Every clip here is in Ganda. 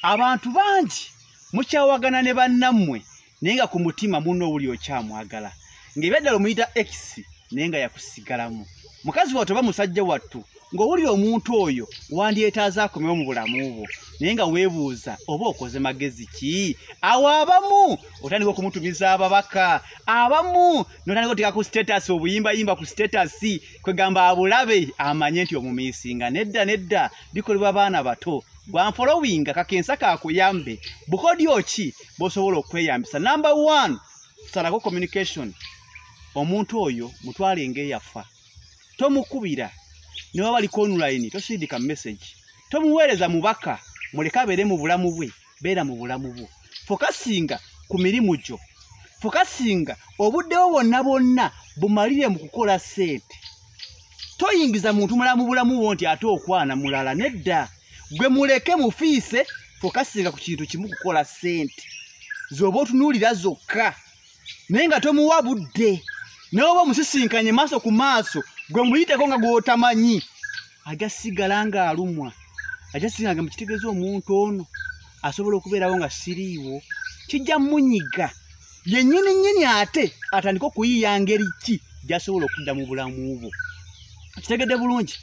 abantu bangi mukyawagana ne bannammwe naye nga ku mutima munno owuli okyamwagala ng'ebyaddala omuyita x naye nga yakusigalamu mukazi wattu oba musajja wattu ng'owuli omuntu oyo wandyetaaza akomewo mu bulamu bwo naye nga weebuuza oba okoze magezi ki awo abamu otandika okumutumiza ababaka abamu notandika oteeka ku sitatasi obuyimbayimba ku sitatasi kwegamba abulabe amanye nti omumiisinga nedda nedda bikolebwa baana bato bwanfolowinga kakensa kakuyambe bukodyo ki bosobola okweyambisa number one salako communication omuntu oyo mutwale ngaeyafa tomukubira neba bali konulaini tosindika message tomuweereza mubaka muleke abeere mu bulamu bwe beera mu bulamu bwo fokasinga ku mirimu gyo fokasinga obuddewo bwonna bwonna bumalire mu kukola sente toyingiza muntu mulala mu bulamu bwo nti ate okwana mulala nedda gwe muleke mufiise fokasinga ku kintu kimu kukola sente zoba otunuulira zokka naye nga tomuwa budde naye oba omusisinkanye maaso ku maaso gwe muyiteko nga gwotamanyi aja sigala ng'alumwa aja sigala nga mukitegeeza omuntu ono asobola okubeerawo nga siriiwo kijja munyiga yennyini nnyini ate atandike okuyiiya ngeri ki gyasobola okudda mu bulamu bwo kitegedde bulungi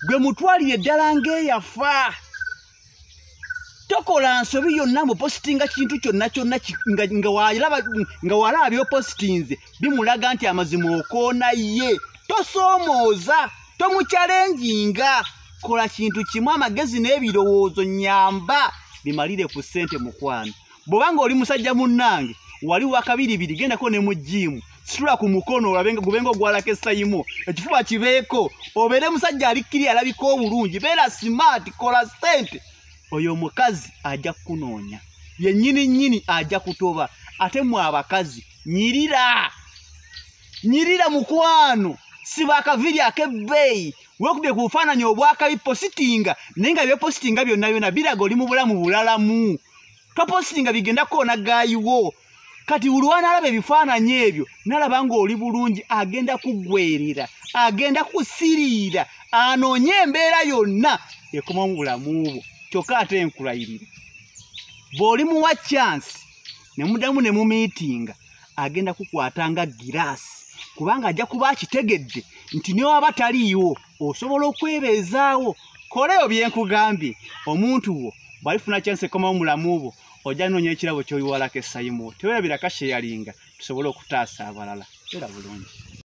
gwe mutwalire eddala ng'eyafa tokola nsobi yonna mupositinga kintu kyonna kyonna nga walaba byopositinze bimulaga nti amazima okoona ye tosoomooza tomukyalenjinga kola kintu kimu amagezi n'ebirowoozo nyamba bimalire ku ssente mukwano bwoba nga oli musajja munnange wali wakabiribiri gendako ne mu jiimu situla ku mukono olabe gube nga ogwalako esayimu ekifuba kibeeko obeere musajja alikkiri alabika obulungi beera simaati kola ssente oyo omukazi ajja kukunoonya yennyini nnyini ajja kutoba ate mwe abakazi nyirira nyirira mukwano siba akaviri ak'ebbeeyi wekubye ku bufaananyi obwakabipositinga naye nga byepositinga byonna byona biraga oli mu bulamu bulalamu topositinga bigenda kukoona gaayiwo kati buli wanaalaba ebifaananyi ebyo nalaba ng'oli bulungi agenda kuggwerera agenda kusiriira anoonye embeera yonna ekoma mu bulamu bwo kyokka ate enkulayirira bw'oli muwa kyansi ne mudamu ne mumiitinga agenda kukwata nga giraasi kubanga ajja kuba akitegedde nti newaba taliiwo osobola okwebeezaawo koleyo byenkugambye omuntu wo bwalifuna kyansi ekomawo mulamu bwo ojja noonya ekirabo kyoyiwalako esayimu tewerabira kasheyalinga tusobole okutaasa abalala era bulungi